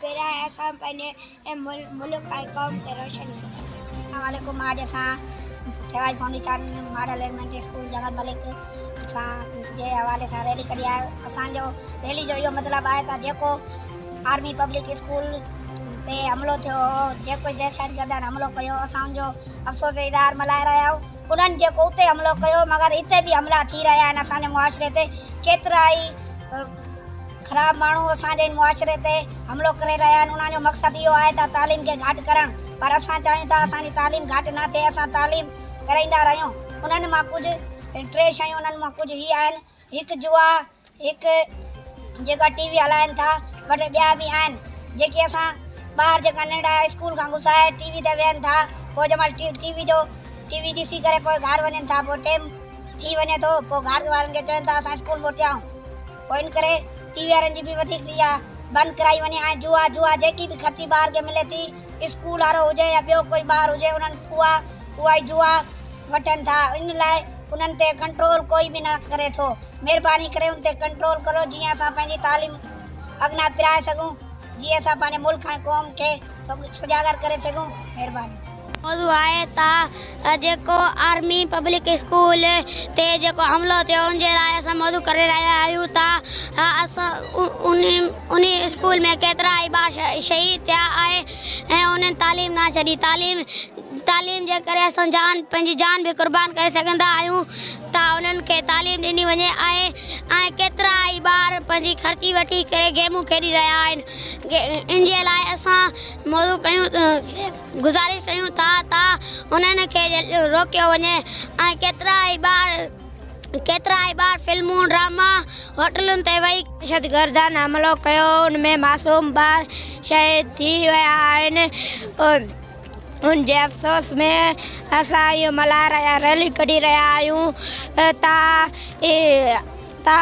پيرائي اسان پنهنجي ملڪ ۽ قوم کي روشن ڪنداسين. اسلام عليڪم آج اسان سيوائي فائونڊيشان ماڊل ايليمينٽري اسڪول جنگل ملڪ سان جي حوالي سان ريلي ڪڍي آهي اسان جو ريلي جو اهو مطلب آهي ته جيڪو آرمي پبلڪ اسڪول تي حملو ٿيو هو جيڪو دهشت گردن حملو ڪيو هو اسان ان جو افسوس جو اظهار ملهائي رهيا آهيون انهن جيڪو اتي حملو ڪيو مگر هتي به حملا ٿي رهيا آهن اسان جي معاشري تي ڪيترائي خراب ماڻهو اسان جي معاشري تي حملو ڪري رهيا آهن انهن جو مقصد اهو آهي ته تعليم کي گهاٽ ڪرڻ پر اسان چاهيون ٿا اسان جي تعليم گهاٽ نه ٿئي اسان تعليم ڪرائيندا رهيون انهن مان ڪجهه ٽي شيون انهن مان ڪجهه هي آهن هڪ جوا هڪ جيڪا ٽي وي هلائن ٿا بٽي ٻيا به آهن جيڪي اسان ٻار جيڪا ننڍا اسڪول کان گسائي ٽي وي تي ويهن ٿا پوء جنهن مهل ٽي ٽي وي جو ٽي وي ڏسي ڪري پوء گهر وڃن ٿا پوء ٽيم ٿي وڃي ٿو پوء گهر وارن کي چون ٿا اسان اسڪول موٽيائون پوء ان ڪري ٽي وي وارن جي به وڌيڪ ٿي اها بند ڪرائي وڃي ۽ جوا جوا جيڪي به خرچي ٻار کي ملي ٿي اسڪول وارو هجي يا ٻيو ڪوئي ٻار هجي انهن اها اها ئي جوا وٺن ٿا ان لاء انهن تي ڪنٽرول ڪوئي به نه ڪري ٿو مهرباني ڪري ان تي ڪنٽرول ڪرو جيئن اسان پنهنجي تعليم اڳنا پرائي سگهون جيئن اسان پنهنجي ملڪ ۽ قوم کي سجاڳر ڪري سگهون مهرباني موضوع آهي ته جيڪو آرمي پبلڪ اسڪول تي جيڪو حملو ٿيو ان جي لاء اسان موضوع ڪري رهيا آهيون ته انهي اسڪول ۾ ڪيترا ئي ٻار شهيد ٿيا آهي ۽ انهن تعليم نه ڇڏي تعليم تعليم جي ڪري اسان جان پنهنجي جان به قربان ڪري سگهندا آهيون ته انهن کي تعليم ڏني وڃي آهي ۽ ڪيترا ئي ٻار پنهنجي خرچي وٺي ڪري گيمون کيڏي رهيا آهن ان جي لاء اسان موضوع ڪيون گذارش ڪيون ٿا ته انهن کي روڪيو وڃي ۽ ڪيترا ئي ٻار ڪيترا ئي ٻار فلمون ڊراما هوٽلن تي ويهي دهشتگردن حملو ڪيو ان ۾ معصوم ٻار شهيد ٿي ويا آهن ان جي افسوس ۾ اسان اهو ملهائي رهيا ريلي ڪڍي رهيا آهيون ته ته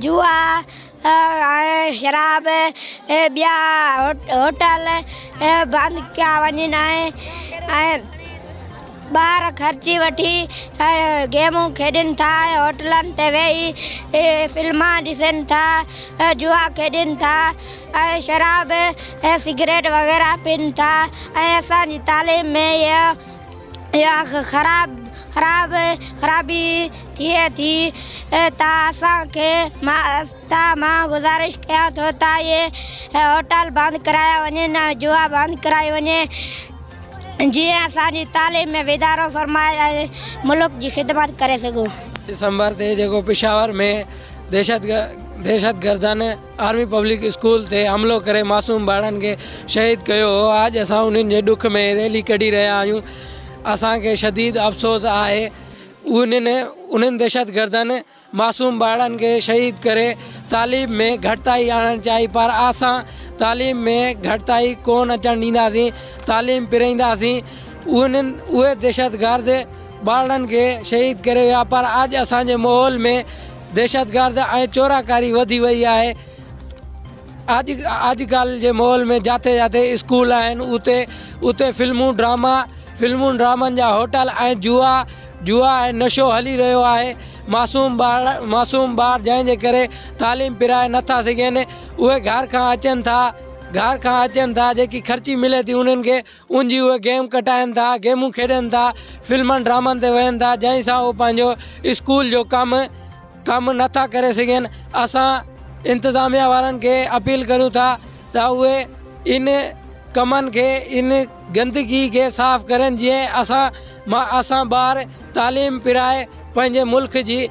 جوا ۽ شراب ۽ ٻيا هوٽل بند ڪيا وڃن ۽ ٻار خرچي وٺي گيمون کيڏن ٿا ۽ هوٽلن تي ويهي فلمان ڏسن ٿا ۽ جوا کيڏن ٿا ۽ شراب ۽ سگريٽ وغيره پين ٿا ۽ اسان جي تعليم ۾ اهي يا خراب خرابي ٿئي ٿي ته اسان کي ماءستا مان گذارش ڪيان ٿو ته اهي هوٽل بند ڪرايا وڃن ۽ جوا بند ڪرائي وڃي جيئن اسان جي تعليم ۾ واڌارو فرمائي ۽ ملڪ جي خدمت ڪري سگهون. ڊسمبر تي جيڪو پشاور ۾ دهشتگردن آرمي پبلڪ اسڪول تي حملو ڪري معصوم ٻارڙن کي شهيد ڪيو هو آڄ اسان انهن جي ڏک ۾ ريلي ڪڍي رهيا آهيون اسان کي شديد افسوس آهي انهن انهن دهشت گردن معصوم ٻارڙن کي شهيد ڪري تعليم ۾ گهٽتائي آڻڻ چاهي پر اسان تعليم ۾ گهٽتائي ڪون اچڻ ڏينداسين تعليم پرائينداسين انهن اهي دهشت گرد ٻارڙن کي شهيد ڪري ويا پر آڄ اسان جي ماحول ۾ دهشتگرد ۽ چوراڪاري وڌي وئي آهي، اڄ ڪالهه جي ماحول ۾ جاٿي جاٿي اسڪول آهن اتي اتي فلمون ڊراما فلمون ڊرامن جا هوٽل ۽ جوا جوا ۽ نشو هلي رهيو آهي معصوم ٻار معصوم ٻار جنهن جي ڪري تعليم پرائي نه ٿا سگهين اهي گهر کان اچن ٿا گهر کان اچن ٿا جيڪي خرچي ملي ٿي انهن کي ان جي اهي گيم ڪٽائن ٿا، گيمون کيڏن ٿا، فلمن ڊرامن تي وهن ٿا جنهن سان اهي پنهنجو اسڪول جو ڪم ڪم نه ٿا ڪري سگهن اسان انتظاميا وارن کي اپيل ڪريون ٿا ته اهي ان ڪمن کي ان گندگي کي صاف ڪرن جئين اسان اسان ٻار تعليم پرائي پنهنجي ملڪ جي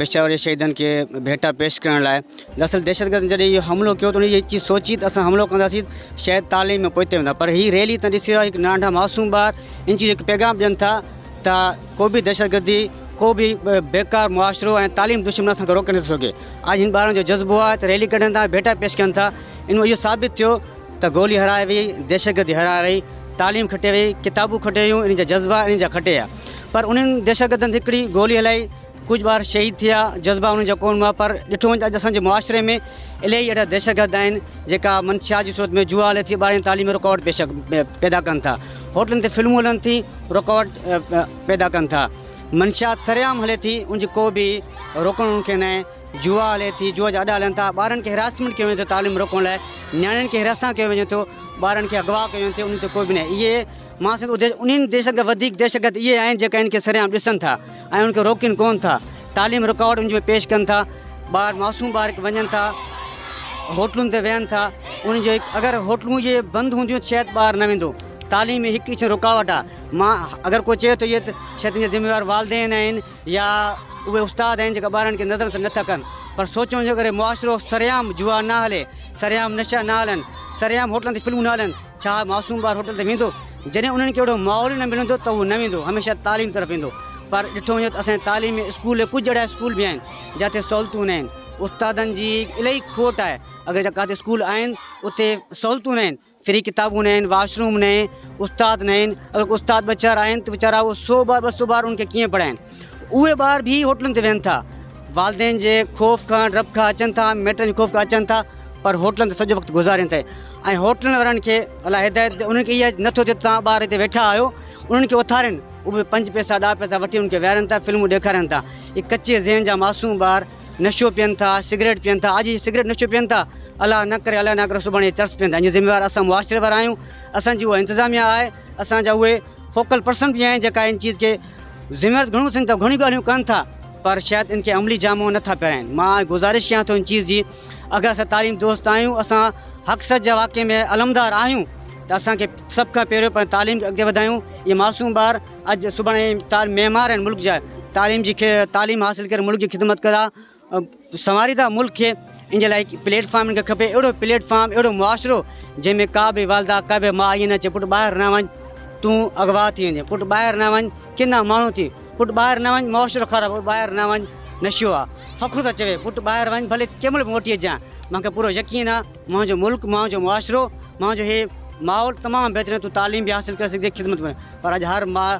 پشاور جي شهيدن کي ڀيٽا پيش ڪرڻ لاء دراصل دهشتگردن جڏهن اهو حملو ڪيو ته انهن اها چيز سوچي ته اسان حملو ڪنداسين شايد تعليم ۾ پوئتي ويندا پر هي ريلي تان ڏسي رهيا هڪ نانڍا معصوم ٻار ان چيز جو هڪ پيغام ڏين ٿا ته ڪو به دهشتگردي ڪو به بيڪار معاشرو ۽ تعليم دشمن اسان کي روڪي نٿو سگهي اڄ هن ٻارن جو جذبو آهي ته ريلي ڪڍن ٿا ڀيٽا پيش ڪن ٿا ان اهو ثابت ٿيو ته گولي هرائي وئي دهشتگردي هرائي وئي تعليم کٽي وئي ڪتابون کٽي ويون ان جا جذبا ان جا کٽي ويا پر انهن دهشتگردن هڪڙي گولي هلائي ڪجهه ٻار شهيد ٿيا، جذبا انهن جا ڪونه هئا پر ڏٺو وڃي ته اڄ اسان جي معاشري ۾ الهي اهڙا دهشتگرد آهن جيڪا منشيات جي صورت ۾ جوا هلي ٿي ٻارن جي تعليم ۾ رڪاوٽ پيش پيدا ڪن ٿا هوٽلن تي فلمون هلن ٿي رڪاوٽ پيدا ڪن ٿا منشيات سرعام هلي ٿي ان جي ڪو به روڪڻ انهن کي ناهي جوا هلي ٿي جوا جا اڏا هلن ٿا ٻارن کي هراسمينٽ ڪيو وڃي ٿو تعليم روڪڻ لاء نياڻين کي هراسان ڪيو وڃي ٿو ٻارن کي اغوا ڪيو وڃي ٿو انهن تي ڪو به ناهي اهي مان سنڌ اديس انهن ديسن کان وڌيڪ دهشتگرد اهي آهن جيڪا ان کي سرعام ڏسن ٿا ۽ ان کي روڪين ڪون ٿا، تعليم رڪارڊ ان جي ۾ پيش ڪن ٿا، ٻار معصوم ٻار هڪ وڃن ٿا هوٽلن تي ويهن ٿا ان جو هڪ اگر هوٽلون جي بند هونديون شايد ٻار نه ويندو تعليم ۾ هڪ اچن رڪاوٽ آ مان اگر ڪو چئي ٿو يت شايد ان جا ذميوار والدين آهن يا اهي استاد آهن جيڪا ٻارن کي نظر سان نٿا ڪن پر سوچون جي ڪري معاشرو سرعام جوا نه هلي سرعام نشا نه هلن سرعام هوٽلن تي فلمون نه هلن. ڇا معصوم ٻار هوٽل تي ويندو؟ جڏهن انهن کي اهڙو ماحول ئي نه ملندو ته هو نه ويندو، هميشه تعليم طرف ويندو. پر ڏٺو وڃي ته اسان جي تعليم ۾ اسڪول ڪجهه اهڙا اسڪول به آهن جاتي سهولتون نه آهن. استادن جي الائي کوٽ آهي. اگر جا ڪاتي اسڪول آهن اتي سهولتون نه آهن، فري ڪتابون نه آهن، واش روم نه آهن، استاد نه آهن. اگر ڪو استاد ٻه چار آهن ته ويچارا اهو سو ٻار ٻه سو ٻار ان کي ڪيئن پڙهائين. اهي ٻار به هوٽلن تي ويهن ٿا. والدين جي خوف کان ڊپ کان اچن ٿا، ميٽن جي خوف کان اچن ٿا پر هوٽلن تي سڄو وقت گذارين ٿي ۽ هوٽلن وارن کي الله هدايت ڏي انهن کي اها نه ٿو ٿئي ته توهان ٻار هتي ويٺا آهيو انهن کي اٿارين اهي پنج پئسا ڏاهه پئسا وٺي انهن کي ويهارين ٿا فلمون ڏيکارين ٿا اهي ڪچي ذهن جا معصوم ٻار نشو پين ٿا سگريٽ پين ٿا اڄ سگريٽ نشو پين ٿا الله نه ڪري الله نه ڪري سڀاڻي اهي چرس پين ٿا ان جي ذميوار اسان معاشري وارا آهيون اسان جي اها انتظاميا آهي اسان جا اهي فوڪل پرسن به آهن جيڪا ان چيز کي ذميوارت گهڻو اٿن ته گهڻيون ڳالهيون ڪن ٿا پر شايد ان کي عملي جامو نه ٿا پهرائين مان آء گذارش ڪيان ٿو ان چيز جي اگر اسان تعليم دوست آهيون اسان حق سچ جا واقعي ۾ علمدار آهيون ته اسان کي سڀ کان پهريون پنهنجي تعليم کي اڳتي وڌايون اهي معصوم ٻار اڄ سڀاڻي معمار آهن ملڪ جا تعليم جي تعليم حاصل ڪري ملڪ جي خدمت ڪندا سنواريندا ملڪ کي ان جي لاء پليٽ فارم ان کي کپي اهڙو پليٽ فارم اهڙو معاشرو جنهن ۾ ڪا به والده ڪا به ماء ائين نه چئي پٽ ٻاهر نه وڃ تون اغوا ٿي ويندين پٽ ٻاهر نه وڃ ڪنا ماڻهو ٿي پٽ ٻاهر نه وڃ معاشرو خراب پٽ ٻاهر نه وڃ نشو آهي فخر ٿا چوي پٽ ٻاهر وڃ ڀلي ڪنهن مهل به موٽي اچجان مونکي پورو يقين آهي منهنجو ملڪ منهنجو معاشرو منهنجو هي ماحول تمام بهترين تون تعليم به حاصل ڪري سگهندين خدمت ڪري پر اڄ هر ماء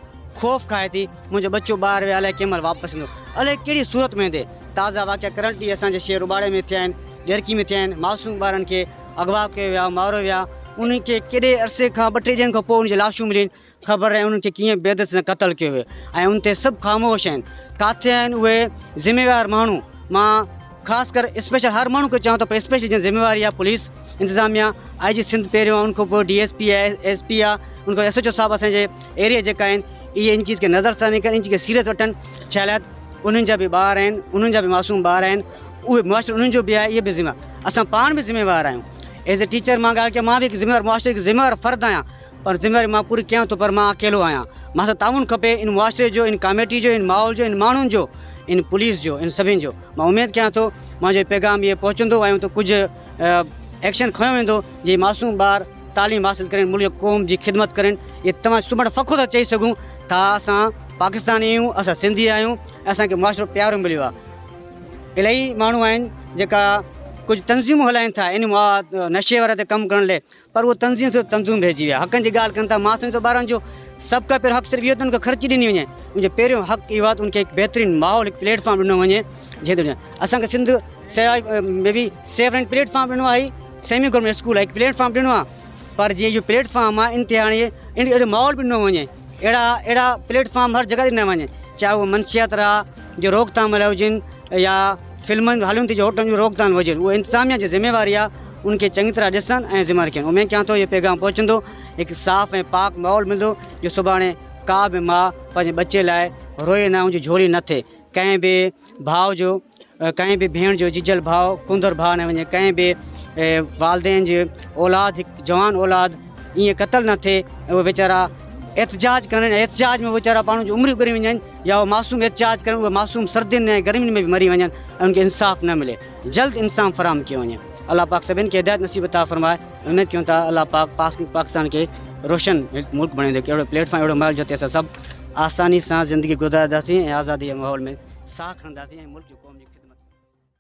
خوف کائي ٿي منهنجو ٻچو ٻاهر ويو الائي ڪنهن مهل واپس ايندو الائي ڪهڙي صورت ۾ ايندي تازا واقعا ڪرنٽ ڏينهن اسان جي شهر روٻاڙي ۾ ٿيا آهن ڏيرڪي ۾ ٿيا آهن معصوم ٻارن کي اغوا ڪيو ويو آهي ماريو ويو آهي انهن کي ڪيڏي عرصي کان ٻه ٽي ڏينهن کان پوء ان جي لاشون ملين خبر ناهي انهن کي ڪيئن بيدس سان قتل ڪيو ويو ۽ ان تي سڀ خاموش آهن ڪاٿي آهن اهي ذميوار ماڻهو مان خاص ڪر اسپيشل هر ماڻهو کي چوان ٿو پر اسپيشل جن ذميواري آ پوليس انتظاميا آء جي سنڌ پهريون آ ان کان پوء ڊي ايس پي آ ايس پي آ ان کان ايس ايچ او صاحب اسان جي ايريا جيڪا آهن اهي ان چيز کي نظر ثاني ڪن ان چيز کي سيريس وٺن ڇا لاء انهن جا به ٻار آهن انهن جا به معصوم ٻار آهن اهي معاشرو انهن جو به آهي اهي به ذميوار اسان پاڻ به ذميوار آهيون ايز اي ٽيچر مان ڳالهه ڪيا مان به هڪ ذميوار معاشري جو ذميوار فرد آهيان ان ذميواري مان پوري ڪيان ٿو پر مان اڪيلو آهيان مان سان تعاون کپي ان معاشري جو ان ڪاميٽي جو ان ماحول جو ان ماڻهن جو ان پوليس جو ان سڀني جو مان اميد ڪيان ٿو منهنجو هي پيغام اهي پهچندو ۽ اتي ڪجهه ايڪشن کنيو ويندو جي معصوم ٻار تعليم حاصل ڪرين ملڪ قوم جي خدمت ڪرين اهي توهان سمڙ فخر سان چئي سگهون ٿا اسان پاڪستاني آهيون اسان سنڌي آهيون اسان کي معاشرو پيارو مليو آهي الاهي ماڻهو آهن جيڪا ڪجهه تنظيمون هلائين ٿا ان نشي واري تي ڪم ڪرڻ لاء پر اهي تنظيمون صرف تنظيم رهجي ويا. حقن جي ڳالهه ڪن ٿا، مان سمجهندو آهيان ته ٻارن جو سڀ کان پهريون حق صرف اهو ٿيندو آهي ته خرچي ڏني وڃي. ان جو پهريون حق اهو آهي ته ان کي هڪ بهترين ماحول، هڪ پليٽ فارم ڏنو وڃي جنهن تي اسان کي سنڌ سياحت ۾ به سيف رينٽ پليٽ فارم ڏنو آهي، سيمي گورنمينٽ اسڪول آهي، هڪ پليٽ فارم ڏنو آهي پر جي اهو پليٽ فارم آهي ان تي هاڻي اهڙو ماحول به ڏنو وڃي. اهڙا اهڙا پليٽ فارم هر جڳهه تي ڏنا وڃن چاهي اهو منشيات را جو روڪٿام لاء هجن يا فلمن هالن تي جو هوٽلن جون روڪ ٿام هجن اهو انتظاميا جي ذميواري آهي ان کي چڱي طرح ڏسن ۽ ذمه رکين اميد ڪيان ٿو اهو پيغام پهچندو هڪ صاف ۽ پاڪ ماحول ملندو جو سڀاڻي ڪا به ماء پنهنجي ٻچي لاء روئي نه ان جي جھولي نه ٿئي ڪنهن به ڀاء جو ڪنهن به ڀيڻ جو ججل ڀاء ڪونڌر ڀاء نه وڃي ڪنهن به والدين جي اولاد هڪ جوان اولاد ائين قتل نه ٿئي اهي ويچارا احتجاج ڪن احتجاج ۾ ويچارا پاڻ جون عمريون ڪري وڃن يا اهو معصوم احتجاج ڪن اهي معصوم سردين ۽ گرمين ۾ به مري وڃن ان کي انصاف نه ملي جلد انصاف فراهم ڪيو وڃي الله پاڪ سڀني کي هدايت نصيب عطا فرمائي اميد ڪيون ٿا الله پاڪ پاڪستان کي روشن ملڪ بڻائيندو ڪهڙو پليٽ فارم اهڙو مال جو تي سڀ آساني سان زندگي گذارنداسين ۽ آزادي جي ماحول ۾ ساهه کڻنداسين ۽ ملڪ ۽ قوم جي خدمت ڪنداسين.